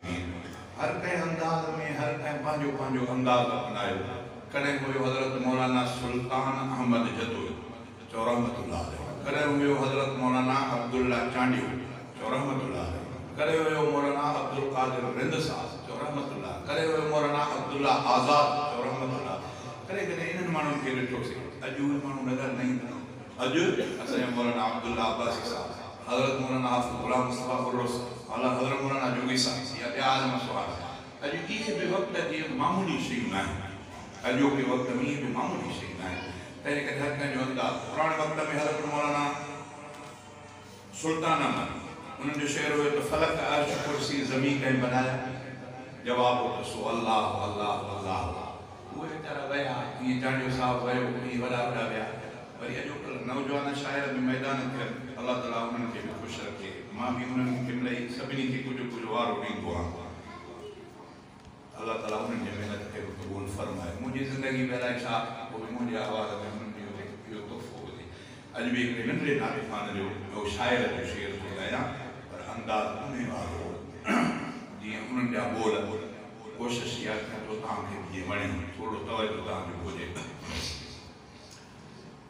ھين. ھر ڪنھن انداز ۾ ھر ڪنھن پنھنجو پنھنجو انداز اپنايو. ڪڏھن ھيو حضرت مولانا سلطان احمد جتوئي چئو رحمة الله عليه، ڪڏھن ھيو حضرت مولانا عبدالله چانڊيو چئو رحمة الله عليه، ڪڏھن ھيو مولانا عبدالقادر رند صاحب چئو رحمة الله، ڪڏھن ھيو مولانا عبدالله آزاد چئو رحمة الله، ڪڏھن ڪڏھن انھن ماڻھن کي ڏٺوسين. اڄ اھي ماڻھو نظر نه ايندا. اڄ اسان جا مولانا عبدالله عباسي صاحب، حضرت مولانا حافظ غلام مصطفيٰ الرس، اعليٰ حضرت مولانا جوڳي صاحب يا ٻيا عالم سواڙ، اڄ اهي به وقت جي معمولي شيون ناهن. اڄوڪي وقت ۾ اهي به معمولي شيون ناهن. تنهنجي ڪري هر ڪنهن جو انداز پراڻي وقت ۾ حضرت مولانا. سلطان احمد، انهن جو شعر هيو ته فلڪ عرش ڪرسي زمين ڪنهن بنايا؟ جواب هو ته سو الله الله الله هو. اهي ويچارا ويا، جيئن چانڊيو صاحب ويو، اهي وڏا وڏا ويا، وري اڄوڪلهه نوجوان شاعر به ميدان ٿين، الله تعاليٰ انهن کي به خوش رکي، مان به انهن ڪملهي سڀني کي ڪجهه ڪجهه وارو ڏيندو آهيان. الله تعالي انهن جي محنت کي به قبول فرمائي منهنجي زندگي ۾ الائي ڇا پوء منهنجي آواز ۾ انهن جو هڪ اهو تحفو هجي اڄ به هڪڙي ننڍڙي نالي خان جو ٻيو شاعر جو شعر ٿو ڳايان پر انداز انهي وارو هو جيئن انهن جا ٻول هو ڪوشش اها ڪيان ٿو توهان کي به جيئن وڻي ٿورڙو توجه توهان جو هجي.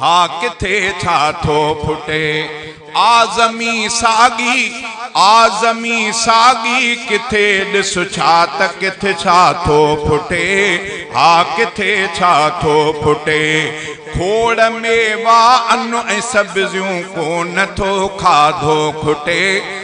ها ڪٿي ڇا ٿو ڦٽي اعظمي ساڳي اعظمي ساڳي ڪٿي ڏس ڇا ته ڪٿ ڇا ٿو ڦٽي ها ڪٿي ڇا ٿو ڦٽي کوڙ ميوا ان ۽ سبزيون ڪونه ٿو کاڌو کٽي